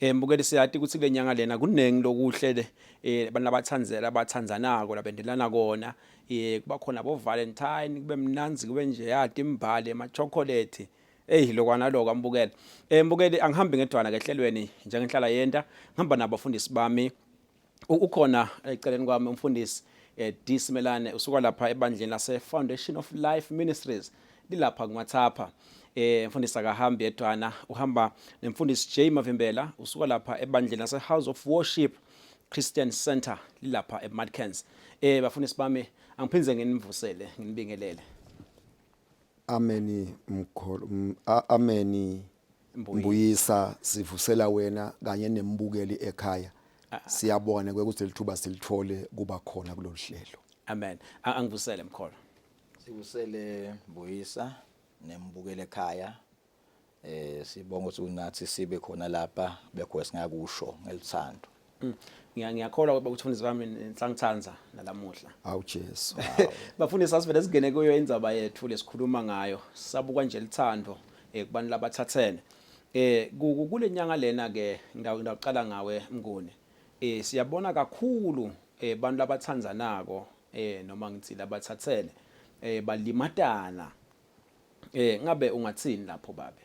Eh mbukeli siyati ukuthi kule nyanga lena kuningi lokuhle le eh abantu abathandzela abathandzanako labendelana kona eh kuba khona bo Valentine kube mnanzi kube nje yati imbali ama chocolate eyi lokwana lokho ambukele eh mbukeli angihambi ngedwana kehlelweni njengenhlala yenta ngihamba nabafundisi bami ukhona eceleni kwami umfundisi eh, D Simelane usuka lapha ebandleni lase Foundation of Life Ministries lilapha kuMathapha eh mfundisi akahambi yedwana uhamba nemfundisi J Mavimbela usuka lapha ebandleni lase House of Worship Christian Center lilapha eMadkens eh bafundisi bami angiphindze nginivusele nginibingelele Ameni mkhulu ameni Mbuyisa sivusela wena kanye nembukeli ekhaya ah, ah. siyabona kwekuthi lithuba silithole kuba khona kulolu hlelo amen angivusele mkholo sikusele mbuyisa nembukeli ekhaya eh sibonga ukuthi unathi sibe khona lapha bekho singakusho ngelithando Mm. ngiyakholwa ukuba uthunzi kwami nisangithanda nalamuhla awu Jesu bafundisi asivele singene kuyo indaba yethu lesikhuluma ngayo sabukwa nje lithando eh, kubantu labathathene eh kule nyanga lena ke ngidawuqala ngawe mnguni eh siyabona kakhulu eh abantu labathandzanako eh noma ngithi labathathene eh balimatana eh ngabe ungathini lapho babe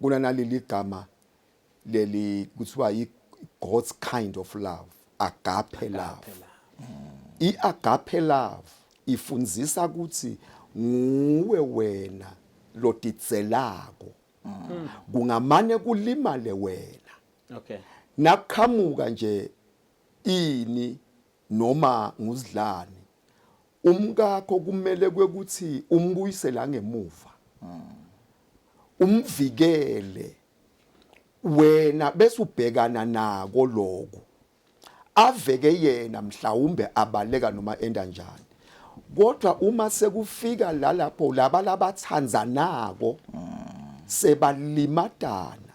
Kunanaleli gama leli kuthiwa yi God's kind of love, agape love. I agape love ifundisa ukuthi nguwe wena lotidzelako. Mm. Kungamane kulimale wena. Okay. Nakuqhamuka nje ini noma nguzidlani Umkakho kumele kwekuthi umbuyisele angemuva. Umvikele wena bese ubhekana nako lokho aveke yena mhlawumbe abaleka noma enda njani kodwa uma sekufika la lapho laba labathandzanako sebalimatana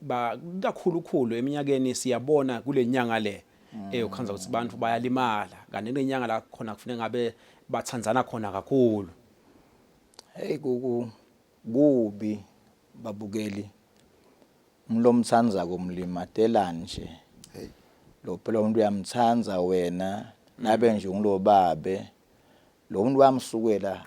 ba kakhulukhulu eminyakeni siyabona kule nyanga le eyokhanza ukuthi abantu bayalimala kanti kule nyanga la khona kufuneka ngabe bathandzana khona kakhulu hey kuku kubi babukeli umlomthandzako mlimatelani nje hey lo phela umuntu uyamthanda wena nabe nje ngilobabe lo muntu wamsukela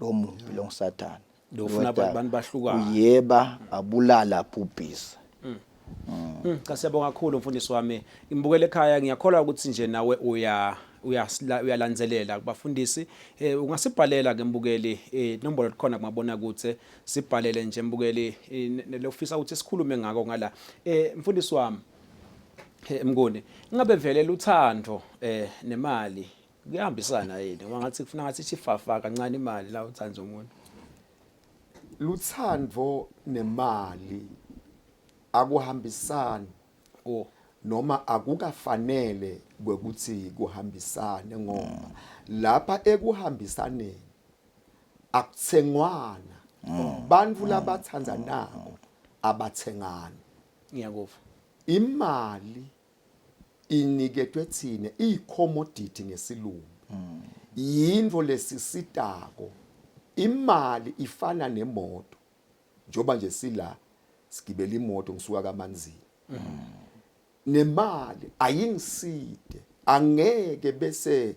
lo mubi lo ngusathane Lo ufuna abantu- Nodaba. abantu bahlukane. uyeba abulala abhubhise Mm, cha siyabonga kakhulu mfundisi wami ngibukele ekhaya ngiyakholwa ukuthi nje nawe uya uyasila- uyalandzelela kubafundisi eh, ungasibhalela ke mbukeli eh, nombolo likhona kumabona kutse sibhalele nje mbukeli eh, ne- ne- lofisa ukuthi sikhulume ngako ngala eh, mfundisi wami Eh, Mnguni, ingabe vele luthando eh nemali kuyahambisana yini ngoba ngathi kufuna ngathi ithi fafa kancane imali la uthanda umuntu luthando nemali akuhambisani oh noma akukafanele kwekuthi kuhambisane ngoba lapha ekuhambisaneni akuthengwana bantfu labathandanako abathengani ngiyakuva imali iniketwe thina iyicommodity ngesilungu mm. yinto lesisitako imali ifana nemoto njoba nje sila sigibela imoto ngisuka kamanzini mm. nemali ayingiside angeke bese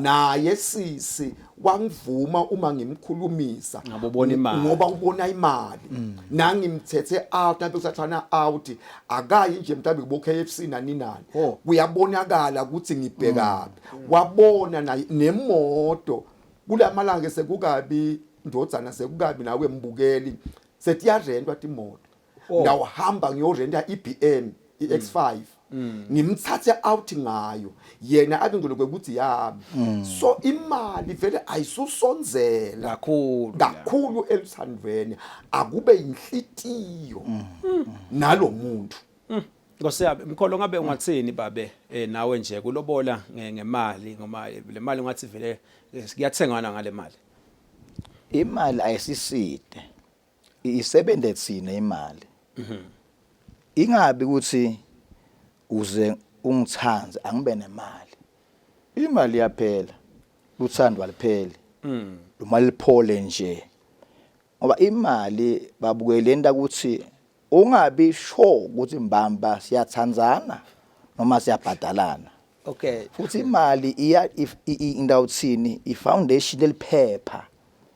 naye sisi wangivuma uma ngimkhulumisa ngoba ubona imali mm. nangimthethe out abe usathana out akayi nje mhlawumbe kubo KFC nani nani oh. kuyabonakala ukuthi ngibhekapi mm. wabona naye nemoto kulamalanga sekukabi ndodzana sekukabi nawe mbukeli setiyarentwa timoto Oh. ngawuhamba ngiyorenta i-bm i-x5 mm. ngimthathe out ngayo yena abe ngilokwe ukuthi yami mm. so imali vele ayisusonzela kakhulu kakhulu eluthandweni akube inhlitiyo mm. nalo muntu Nkosi yami mkholo ngabe ungathini babe eh nawe nje kulobola ngemali ngoma le mali ungathi vele eh, kuyathengana ngale mali Imali ayisiside isebenze thina imali mhm. ingabi ukuthi uze ungithande angibe nemali imali yaphela luthando alipheli mm. uma liphole nje ngoba imali babukele into ukuthi ungabi sure ukuthi mbamba siyathandana noma siyabhadalana okay futhi imali iya indawo thini i foundation eliphepha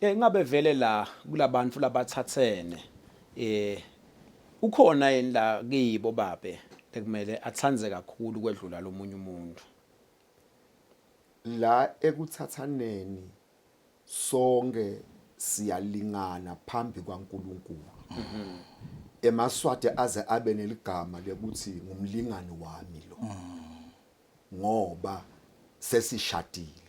Eh ngabe vele la kulabantu labathathene eh ukhona yini la kibo babe ekumele athande kakhulu kwedlula lomunye umuntu la ekuthathaneni sonke siyalingana phambi kwaNkuluNkulu mhm. emaswati aze abe neligama lekuthi ngumlingani wami lo mhm. ngoba sesishadile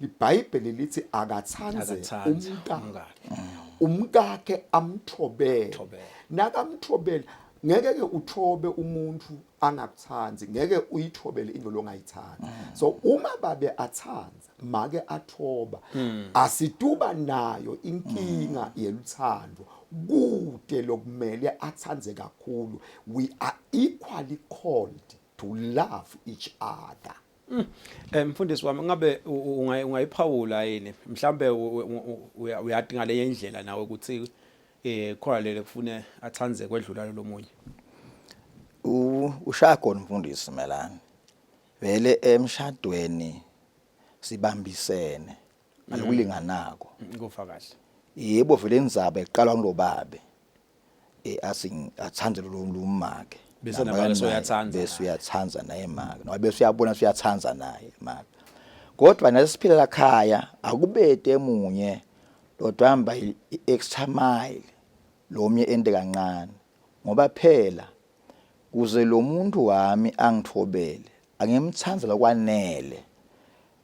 IBhayibheli lithi akathanze umkakhe. Umkakhe amthobele. Nakamthobele ngeke ke uthobe umuntu angakuthandi ngeke uyithobele into longayithandi mm. so uma babe athanda make athoba mm. asituba nayo inkinga mm. yeluthando kude lokumele athande kakhulu we are equally called to love each other Mm. Eh mfundisi wami ngabe ungayiphawula yini mhlambe uyati ngale indlela nawe ukuthi eh khona lele kufune athanze kwedlula lomunye ushaya khona umfundisi melani vele emshadweni sibambisene alikulinganako mm, kufa kahle yebo vele inzaba eqalwa ngulobabe eh asing athanda lo lumake bese nabake soyathanda bese uyathanda naye maka ngoba bese uyabona uyathanda naye maka kodwa nasiphila la khaya akubete emunye lodwa hamba i-extra mile lomnye ende kancane ngoba phela kuze lo muntu wami angithobele angimthandela kwanele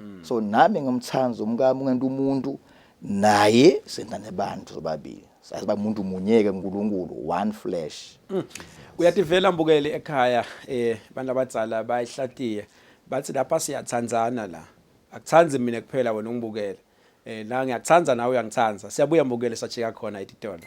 mm. so nami ngimthanda umkami ungento umuntu naye senza nebantu sobabili sazi ba umuntu munyeke uNkulunkulu one flesh mm. uyativela mbukeli ekhaya eh abantu abadzala bayihlatiye bathi lapha siyathandzana la akuthandi mina kuphela wena ungibukele eh la ngiyakuthanda nawe uyangithanda siyabuya mbukele sachika khona etitolo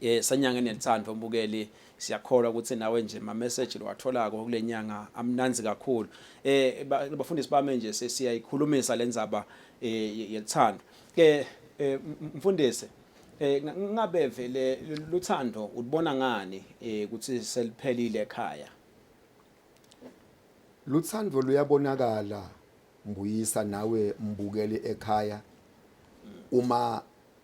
Eh sanyanga enelithando mbukeli siyakholwa ukuthi nawe nje ma message lowatholako kulenyanga amnanzi kakhulu eh bafundisi bami nje siyayikhulumisa lenzaba eh, yelithando ke eh, mfundisi eh ngabe vele luthando ulibona ngani eh, ukuthi seliphelile ekhaya luthando luyabonakala mbuyisa nawe mbukeli ekhaya uma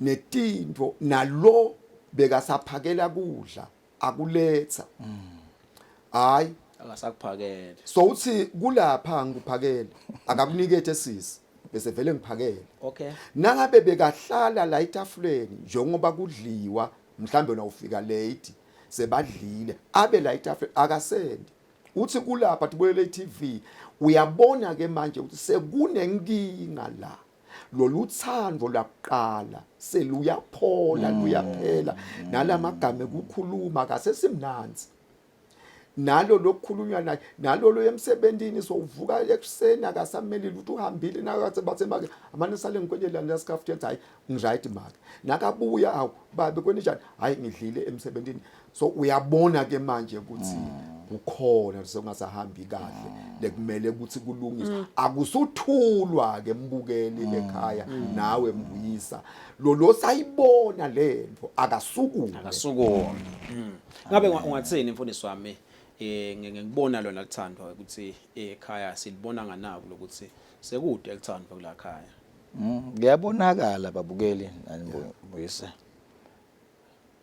netintfo nalo bekasaphakela kudla akuletsa hayi akasakuphakele so uthi kulapha ngikuphakele akakunikethe sisi bese vele ngiphakele okay nangabe bekahlala la etafuleni njengoba kudliwa mhlambe wena ufika late sebadlile abe la etafuleni akasendi uthi kulapha tibuyele iTV uyabona ke manje ukuthi sekunenkinga la lolu thando lakuqala seluyaphola mm. luyaphela mm. nalamagama ekukhuluma kasesimnanzi nalo lokukhulunywa naye nalo lo emsebenzini sovuka ekuseni akasameli lutho uhambile nakathi bathe make amane sale ngikwenyela la scarf jet hayi ngiright make nakabuya awu babe kwenijani hayi ngidlile emsebenzini so uyabona ke manje ukuthi mm. kukhona sekungasahambi kahle mm. lekumele ukuthi kulungiswe mm. akusuthulwa ke mbukeli mm. ekhaya mm. nawe mbuyisa lo lo sayibona lento akasukume akasukume mm. ngabe ungathini mfundisi wami eh ngikubona lona lithandwa ukuthi eh, ekhaya silibona nganaku lokuthi sekude elithandwa kula khaya mm, ngiyabonakala babukeli anibuyise yeah.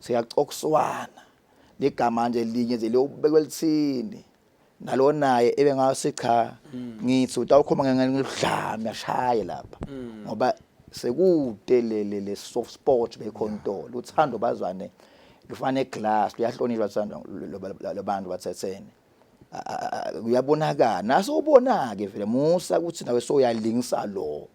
Siyacokswana ligama nje linye nje liyobekwa elithini nalo naye ebengase cha mm. ngithi utawukhoma ngengeludlame ashaye lapha mm. ngoba sekude lele le soft sport bekhontolo uthando bazwane lufana eglass luyahlonishwa thando labantu bathethene kuyabonakala naso ubona ke vele musa ukuthi nawe soyalingisa lo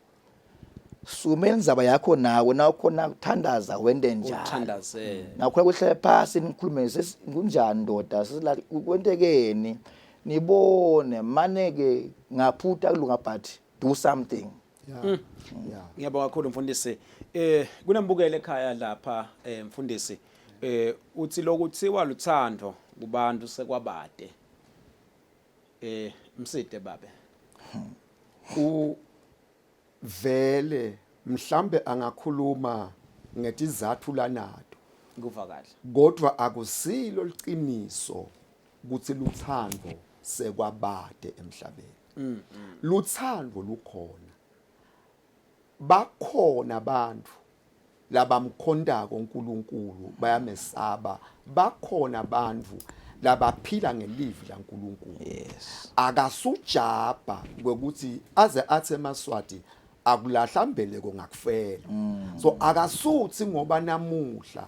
sukuma indaba yakho nawe nawukhona kuthandaza wente njani uthandaze nakhona kuhlale phasi nikhulume sesi- kunjani ndoda sesila kwentekeni nibone mane-ke ngaphuta kulunga but do something yeah yeah ngiyabonga kakhulu mfundisi eh kunembukelo ekhaya lapha eh mfundisi eh uthi lokuthiwa luthando kubantu sekwabade Eh mside babe. U vele mhlambe angakhuluma ngetizathu lanato. Kuva kahle. Kodwa akusilo liqiniso ukuthi luthando sekwabade emhlabeni. Mm, mm. Luthando lukhona. bakhona abantu labamkhontako uNkulunkulu bayamesaba bakhona abantu labaphila ngelivi laNkulunkulu yes akasujabha ngokuthi aze athi emaswati akulahla mbeleko ngakufela mm. so akasuthi ngoba namuhla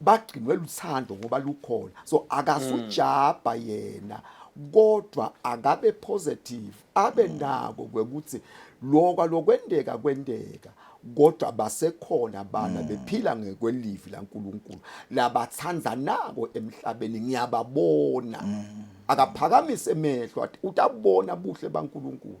bagcinwe luthando ngoba lukhona so akasujabha mm. yena kodwa akabe positive abe mm. nako kwekuthi lokwa lokwendeka kwendeka kodwa basekhona abana mm. bephila ngekwelivi laNkuluNkulu labathandanako emhlabeni ngiyababona akaphakamise emehlo utabona buhle baNkuluNkulu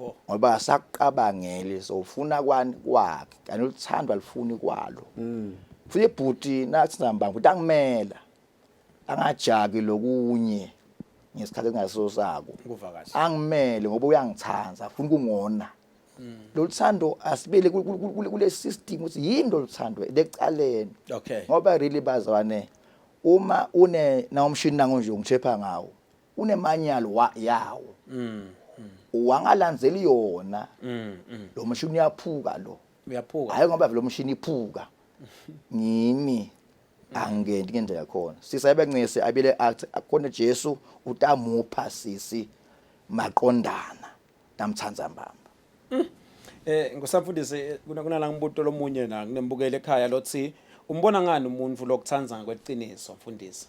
Oh. ngoba asakuqabangeli so ufuna kwani kwakhe kanti uthando alifuni kwalo mm. futhi bhuti nathi nambanga ukuthi angimela angajaki lokunye ngesikhathi engaso sako angimele ngoba uyangithanda afuna ukungona mm. lolu thando asibele kule system ukuthi yini lolu thando lecaleni ngoba really bazwane uma une na umshini nangonje ungithepha ngawo unemanyalo wa yawo mm, mm. wangalandzeli yona mm, mm. lo mshini uyaphuka lo uyaphuka hayi ngoba vele umshini iphuka ngimi angeni ngento yakhona sisa ebencese abile athi akona Jesu utamupha sisi maqondana namthanda mbamba mm. eh ngusafundisi eh, kuna kunala ngibuto lomunye na nginembukele ekhaya lothi umbona ngani umuntu lokuthanda ngakweqiniso mfundisi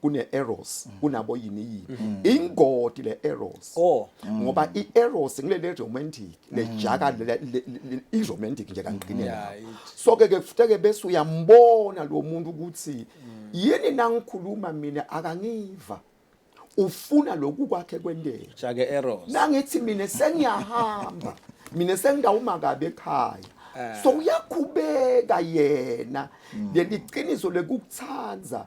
kune-eros kunabo yini yini mm. ingodi le-eros oh. mm. ngoba i-eros ngilele romantic mm. lejaka i-romantic nje kangqinela so-ke ke futeke bese uyambona lo muntu ukuthi yini nangikhuluma mina akangiva ufuna lokhu kwakhe kwenteke jake eros nangithi mina sengiyahamba mina sengidawuma kabi ekhaya eh. so uyakhubeka yena leli qiniso lekukuthanda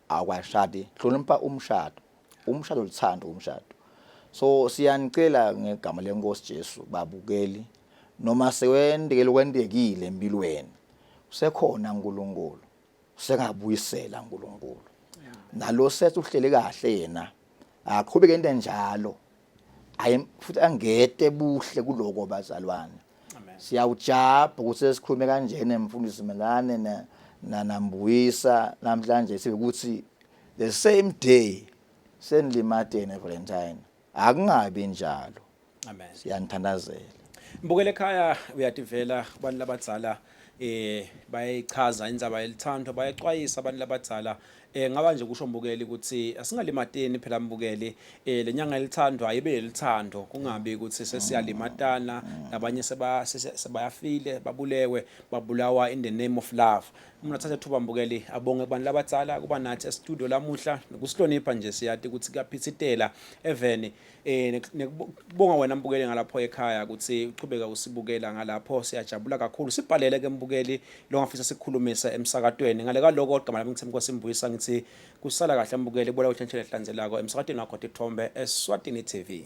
akwashadi hlonipha umshado umshado luthando umshado so siyanicela ngegama lenkosi Jesu babukeli noma sewendekele kwendekile empilweni usekhona uNkulunkulu usengabuyisela uNkulunkulu nalo sethu uhlele kahle yena aqhubeke into enjalo ayi futhi angete buhle kuloko bazalwane siyawujabha ukuthi sesikhulume kanjena mfundisi melane na nanambuyisa namhlanje sibe ukuthi the same day senilimatene valentine akungabi njalo amen siyanithandazela mbukele ekhaya uyativela kubantu labadzala eh bayayichaza indzaba yelithandwa bayaxwayisa abantu labadzala eh ngaba nje kusho mbukeli ukuthi asingalimateni phela mbukeli eh lenyanga elithandwa ibe yelithando kungabi ukuthi sesiyalimatana nabanye seba sebayafile babulewe babulawa in the name of love umuntu athathe thuba mbukeli abonge kubantu labadzala kuba nathi e-studio lamuhla nokusihlonipha nje siyati ukuthi kuyaphithitela eveni Eh nekubonga wena mbukeli ngalapho ekhaya ukuthi uqhubeka usibukela ngalapho siyajabula kakhulu. Sibhalele ke mbukeli longafisa sikukhulumise emsakatweni. Ngale kwaloko igama lami ngithemba kwasimbuyisa ngithi kusala kahle mbukeli bola uhlentshele hlanzelako emsakatweni wakho Tithombe eSwatini TV.